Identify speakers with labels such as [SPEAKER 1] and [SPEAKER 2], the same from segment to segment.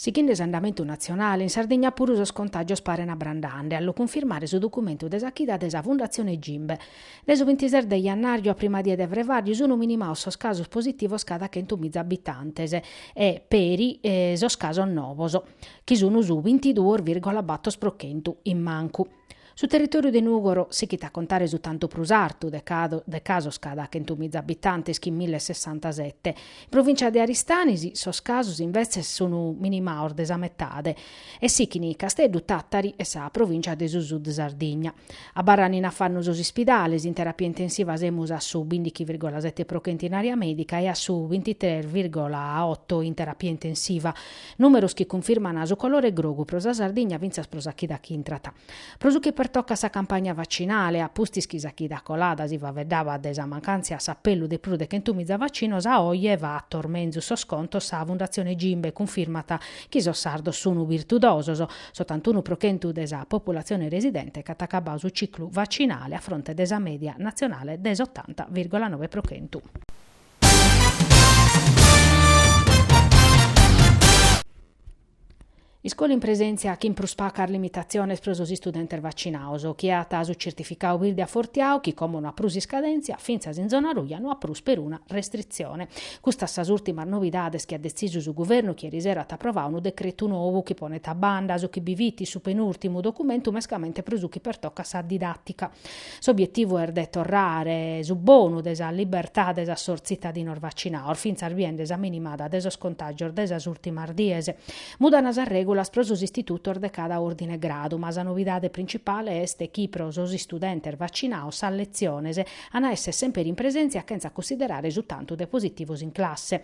[SPEAKER 1] Sighende s'andamentu natzionale, in Sardigna puru sos contàgios paren abrandande, a lu cunfirmare su documentu de sa chida de sa Fundatzione Gimbe. Dae su bintises de jannàriu a prima die de frevàriu sunt minimados sos casos positivos cada chentu miza abitantes e, peri, sos casos novos, chi sunt su bintiduos virgola bator pro chentu, in mancu. Su territòriu de Nùgoro sighit a contare su tantu prus artu de casos cada chentumìza abitantes chin mille e sessantasete. In provìncia de Aristanis sos casos imbetzes sun minimados de sa metade e sighint Casteddu, Tàtari e sa provìncia de su Sud Sardigna. Abarrant in afannu sos ispidales, in terapia intensiva semus a su bìndighi virgola sete pro chentu in àrea mèdica e a su bintitres virgola oto in terapia intensiva. Nùmeros chi cunfirman su colore grogu pro sa Sardigna fintzas pro sa chida chi intrat. Pro su chi pertocat sa campagna vacinale, a pustis chi sa chida colada si faeddabat de sa mancàntzia a s'apellu de prus de chentu miza vacinos, a oje fatos menzus sos contos sa Fundatzione Gimbe cunfirmat chi sos sardos sunu birtudosos, s'otantunu pro chentu de sa populatzione residente ch'at acabadu su ciclu vacinale a fronte de sa mèdia natzionale de s'otanta virgola nobe pro chentu. Iscola in presèntzia chin prus pacas limitatziones pro sos istudentes vacinados, chie at su tzertificadu birde afortiadu, chi como no at prus iscadèntzia, fintzas in zona ruja no at prus peruna restritzione. Custas sas ùrtimas novidades chi at detzisu su Guvernu chi erisera at aprovadu unu decretu nou chi ponet a banda su chi bi fit su penùrtimu documentu mescamente pro su chi pertocat sa didàtica. S'obietivu est de torrare su bonu de sa libertade a sos tzitadinos vacinados, fintzas biende sa minimada de sos contàgios de sas ùrtimas dies. Mudant sas règulas pro sos istitutos de cada òrdine e gradu, ma sa novidade printzipale est chi pro sos istudentes vacinados sas letziones ant a èssere semper in presèntzia chentza cunsiderare su tantu de positivos in classe.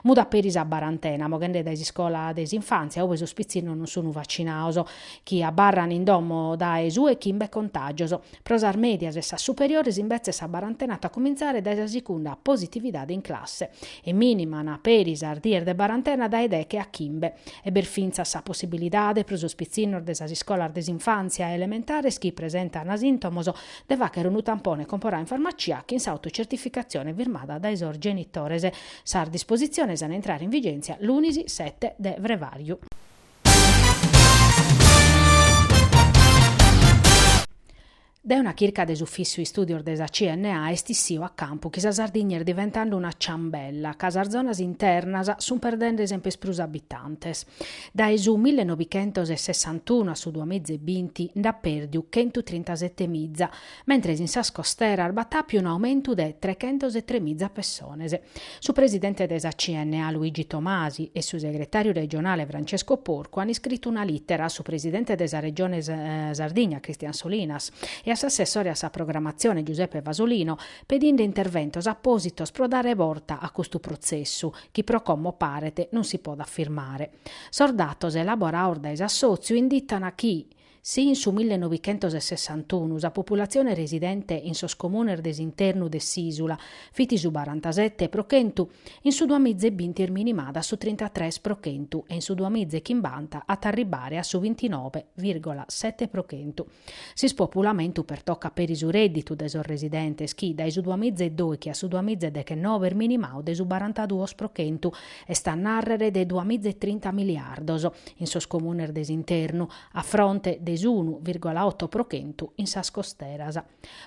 [SPEAKER 1] Mudat peri sa barantena, moghende dae s'iscola de s'infàntzia, ube sos pitzinnos non sunt vacinados. chi abarran in domo dae su 'e chimbe contàgios. Pro sas mèdias e sas superiores imbetzes sa barantena at a cumintzare dae sa segunda positividade in classe, e mìniman peri sas dies de barantena dae deghe a chimbe. E b'est fintzas sa possibilidade pro sos pitzinnos de sas iscolas de s'infàntzia e elementares chi presentan sìntomos de fàghere unu tampone comporadu in farmacia chin s'autocertificatzione firmada dae sos genitores. Sas dispositziones an a intrare in vigèntzia lunis sete de frevàriu. Dae una chirca de s'Ufìssiu Istùdios de sa CNA est issiu a campu chi sa Sardigna est diventande una ciambella, ca sas zonas internas sunt perdende semper prus abitantes. Dae su millenovichentosessantunu a su duamiza e binti nd'at pèrdiu chentutrintasete miza, mentres in sas costeras b'at àpiu un'aumentu de trechentos e tres miza pessones. Su presidente de sa CNA Luigi Tomasi e su segretàriu regionale Francesco Porcu ant iscritu una lìtera a su presidente de sa Regione Sardigna Christian Solinas e a s'assessore a sa programatzione Giuseppe Fasolino pedinde interventos apòsitos pro dare borta a custu protzessu chi pro como paret non si podet firmare. Sos datos elaborados dae s'assòtziu inditan chi Si in su millenovichentos e sessantunu sa populatzione residente in sos comunes de s'internu de s'ìsula fit su barantasete pro chentu, in su duamiza e binti est minimada a su trintatres pro chentu e in su duamiza e chimbanta at a arribbare a su bintinove virgola sete pro chentu. S'ispopulamentu pertocat peri su rèdditu de sos residentes chi, dae su duamiza e dòichi a su duamiza e dechenove est minimadu de su barantaduos pro chentu, est a nàrrere de duamiza e trinta miliardos, in sos comunes de s'internu, a fronte de s'unu virgola oto pro chentu in sas costeras.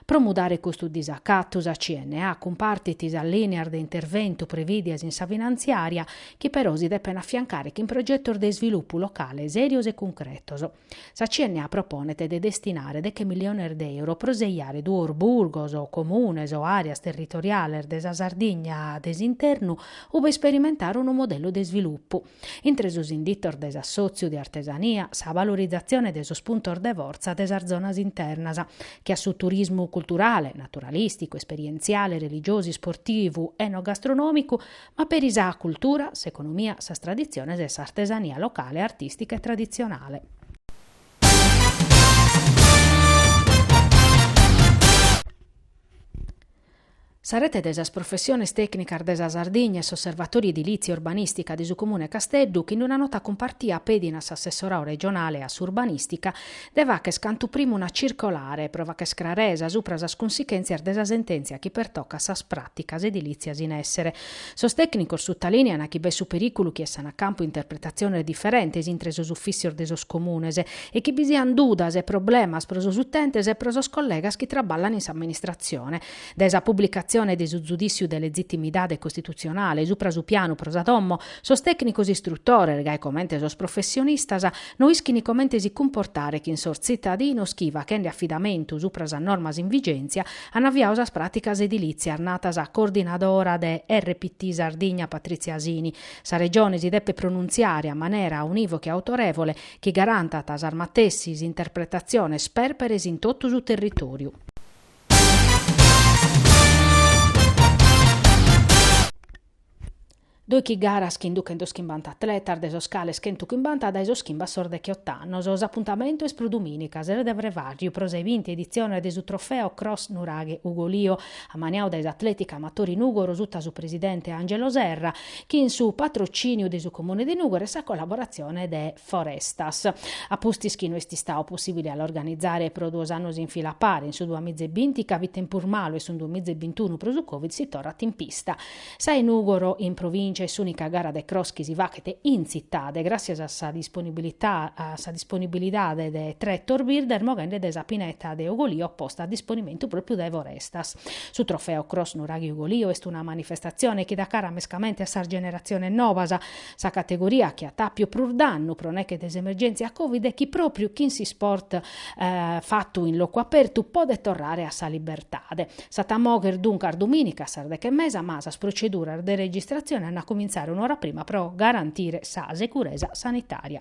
[SPEAKER 1] Pro mudare custu disacatu sa CNA cumpartit sas lìneas de interventu prevìdias in sa finantziària, chi però si depen afiancare chin progetos de isvilupu locale sèrios e cuncretos. Sa CNA proponet de destinare deche miliones de euro pro seiare duos burgos, comunes o àreas territoriales de sa Sardigna de s'internu ue isperimentare unu modellu de isvilupu, Intre sos inditos de s'assòtziu de artesania, sa valorizatzione de sos puntos de fortza de sas zonas internas, che a su turismu culturale, naturalìsticu, esperientziale, religiosu, isportivu, enogastronòmicu, ma peri sa cultura, s'economia, sas traditziones e s'artesania locale, artìstica e traditzionale. Sa Rete de sas Professiones Tècnicas de sa Sardigna e s'Osservatòriu Edilìtzia e Urbanìstica de su Comune 'e Casteddu chi in una nota cumpartia pedint a s'Assessorau Regionale a s'Urbanìstica de fàcher cantu primu una circolare pro fàcher craresa supra sas cunsichèntzias de sa sentèntzia chi pertocat sas pràticas edilìtzias in èssere Sos tècnicos sutalènean chi b'at su perìculu chi essant a campu interpretatziones diferentes intre sos ufìtzios de sos comunes e chi bi siant dudas e problemas pro sos utentes e pro sos collegas chi traballant in s'amministratzione. Dae sa publicatzione de su zudìtziu de lezitimidade costitutzionale supra su pianu pro sa domo, sos tècnicos istrutores, gai comente sos professionistas, no ischint comente si cumportare chin sos tzitadinos chi, fachende afidamentu supra sas normas in vigèntzia, An aviau sas pràticas edilìtzias nat sa coordinadora de RPT Sardigna Patrizia Sini. Sa Regione si depet pronuntziare a manera unìvoca e autorèvole chi garantat sas matessis interpretatziones pèrperes in totu su territòriu. Dòichi garas chin duchentos chimbanta atletas, de sos cales chentu chimbanta dae sos chimba a sos dechiott'annos. S'apuntamentu est pro dumìnica, ses de frevàrriu, pro sa 'e binti editzione de su Trofeo Cross Nuraghe Ugolio, ammaniadu dae s'Atlètica Amatori Nùgoro suta su presidente Angelo Serra, chin su patrocìniu de su Comune de Nùgoro e sa collaboratzione de Forestas. A pustis chi no est istadu possìbile a l'organizare pro duos annos in fila a pare, in su duamiza e binti ca fit tempus malu e in su duamiza e bintunu pro su Covid si torrat in pista. Sa 'e Nùgoro in provìncia est s'ùnica gara de cross chi si faghet in tzitade, gràssias a sa disponibilità a sa disponibilidade de tretos birdes moghende dae sa pineta de Ogolio posta a disponimentu pròpiu dae Forestas. Su trofeo Cross Nuraghi-Ogolio est una manifestatzione chi dat cara mescamente a sas generatziones nobas, Sa categoria chi at àpiu prus dannu pro nèche de s'emergèntzia Covid e chi pròpriu chin s'isport fatu in locu apertu podet torrare a sa libertade. S'at a mogher duncas dumìnica a sas deche e mesa ma sas proceduras de registratzione an a cumintzare un'ora prima pro garantire sa securesa sanitària.